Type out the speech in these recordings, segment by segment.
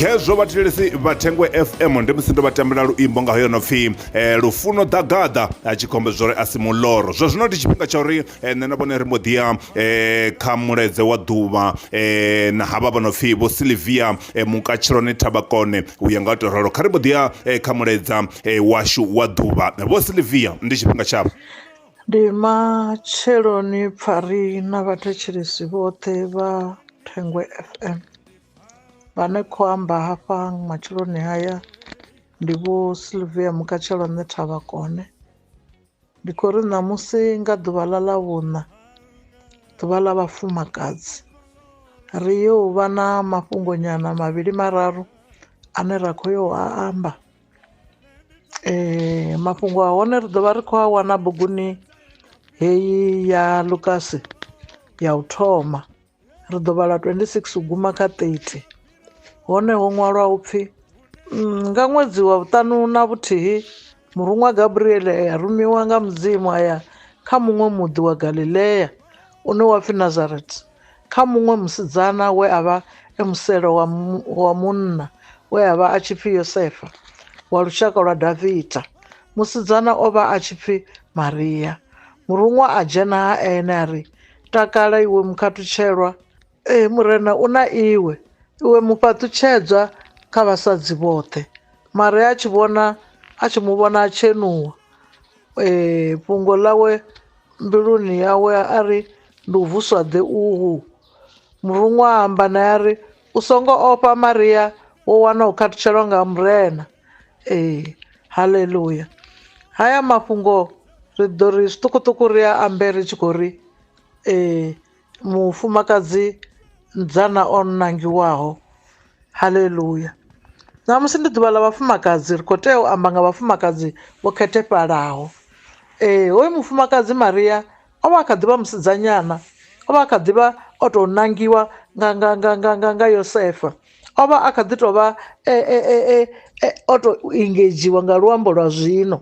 khezwo vhathetshelesi vha thengwe fm ndi musi ndo vha tambela luimbo nga hoyo no pfhi eh, lufuno ḓagaḓa a tshi khombe zwo ri a si muloro zwa zwino ndi tshifhinga tsha uri eh, nṋe na vhone ri mbo ḓi ya eh, kha muledze wa ḓuvha eh, na havha vha no pfhi vho silivia eh, mukatshiloni thabakone u ya nga u tou ralo kha ri mbo ḓi ya eh, kha muledza eh, washu wa ḓuvha vho silivia ndi tshifhinga tshavho Ndi matsheloni Pfari na vhathetshelesi vhoṱhe vha Thengwe FM. Vhane kho amba hafha matsheloni haya ndi vho Sylvia Mukatshelo nṋe thavha kone. Ndi khou ri ṋamusi nga ḓuvha ḽa ḽa vhuṋa ḓuvha ḽa vhafumakadzi ri yo vha na mafhungo nyana mavhili mararu ane ra kho yo a amba. Mafhungo a hone ri ḓovha ri kho a wana buguni heyi ya ḽukasi ya u thoma ri ḓo vhala twendi sigisi u guma kha ṱethi hone ho ṅwalwa upfhi nga ṅwedzi wa vhuṱanu na vhuthihi muruṅwa Gabriele a rumiwa nga mudzimu aya kha muṅwe muḓi wa Galilea une wa pfhi Nazareth kha muṅwe musidzana we a vha e muselo wa, wa munna we a vha a tshi pfi Yosefa wa lushaka lwa Davida. Musidzana o vha a tshi pfi Maria. Muruṅwa a dzhena ha ene a ri, Takala iwe mukhathutshelwa! Ee, Murena u na iwe, iwe mufhaṱutshedzwa kha vhasadzi vhoṱhe. Maria a tshi vhona a tshi mu vhona a tshenuwa. Ee, fhungo ḽawe mbiluni yawe a ri, Ndi u vuswa ḓe uhu! Muruṅwa a amba nae a ri, U songo ofha Maria, wo wana u khathutshelo nga Murena. Ee, haleluya! Haya mafhungo ri ḓo ri zwiṱukuṱuku ri a ambe ri tshi khou ri, Ee. mufumakadzi nzana o nangiwaho haleluya ṋamusi ndi ḓuvha ḽa vhafumakadzi ri khou tea u amba nga vhafumakadzi vho khethefhalaho ee hoyu mufumakadzi maria o vha a kha ḓivha musidzanyana o vha a kha ḓivha o to nangiwa nga nga nga nga nga nga yosefa o vha a kha ḓi tovha e o to engedzhiwa nga luambo lwa zwino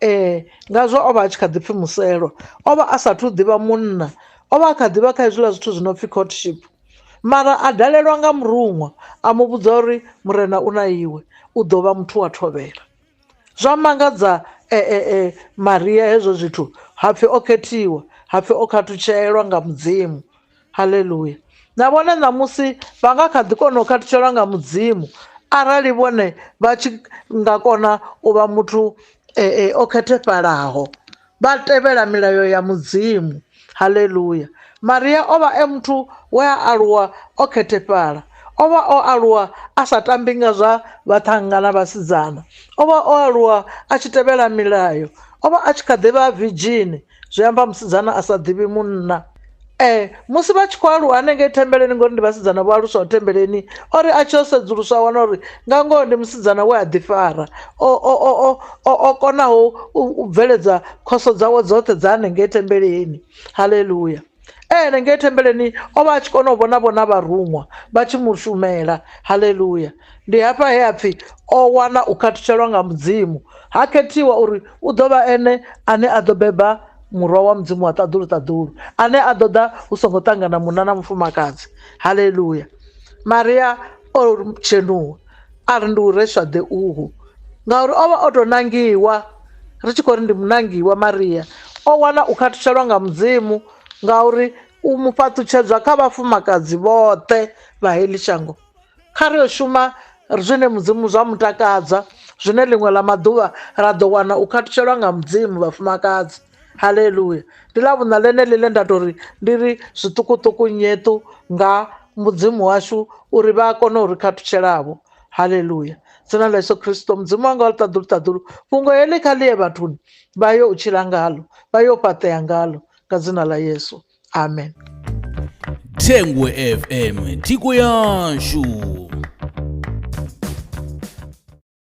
Ee, ngazwo o vha a tshi kha ḓi pfi Muselo. O vha a sa athu u ḓivha munna, o vha a kha ḓi vha kha hezwiḽa zwithu zwi no pfi courtship. Mara a dalelwa nga muruṅwa, a mu vhudza uri Murena u na iwe, u ḓo vha muthu wa thovhela. Zwa mangadza Maria hezwo zwithu, ha pfi o khethiwa, ha pfi o khathutshelwa nga Mudzimu. Halelua! Na vhone ṋamusi vha nga kha ḓi kona u khathutshela nga Mudzimu arali vhone vha tshi nga kona u vha muthu o khethefhalaho, vha tevhela milayo ya Mudzimu. Halelua! Maria o vha e muthu we a aluwa o khethefhala. O vha o aluwa a sa tambi nga zwa vhaṱhannga na vhasidzana. O vha o aluwa a tshi tevhela milayo. O vha a tshi kha ḓi vha virdzhini zwi amba musidzana a sa ḓivhi munna ee musi vha tshi khou aluwa hanengei thembeleni ngori ndi vhasidzana vho aluswaho thembeleni o ri a tshi o sedzuluswa a wana uri nga ngoho ndi musidzana we a ḓifara o konaho u bveledza khoso dzawe dzoṱhe dza hanengei thembeleni haleluya ene ngei thembeleni o vha a tshi kona u vhona vhona vharuṅwa vha tshi mu shumela haleluya ndi hafha he a pfhi o wana u khathutshelwa nga mudzimu ha khethiwa uri u ḓo vha ene ane a ḓo beba murwa wa mudzimu wa ṱaḓulu ṱaḓulu ane a ḓo ḓa hu songo ṱangana munna na mufumakadzi haleluya maria o dzhenuwa a ri ndi u reswa ḓe uhu ngauri o vha o tou nangiwa ri tshi khou ri ndi munangiwa maria o wana u khathishelwa nga mudzimu ngauri u mu fhaṱutshedzwa kha vhafumakadzi vhoṱhe vha heḽi shango kha ri yo shuma zwine mudzimu zwa mutakadza zwine ḽiṅwe ḽa maḓuvha ra ḓo wana u khathishelwa nga mudzimu vhafumakadzi haleluya ndi ḽa vhuṋa ḽene ḽine nda to ri ndi ri zwiṱukuṱuku nyeṱu nga mudzimu washu uri vha a kona uri khathutshelavho haleluya dzina ḽa yesu khristo mudzimu wanga wa ḽiṱaḓulu ṱaḓulu fhungo heḽi kha ḽiye vhathuni vha yo u tshila ngalo vha yo fhaṱea ngalo nga dzina ḽa yesu amen thengwe fm thiko yashu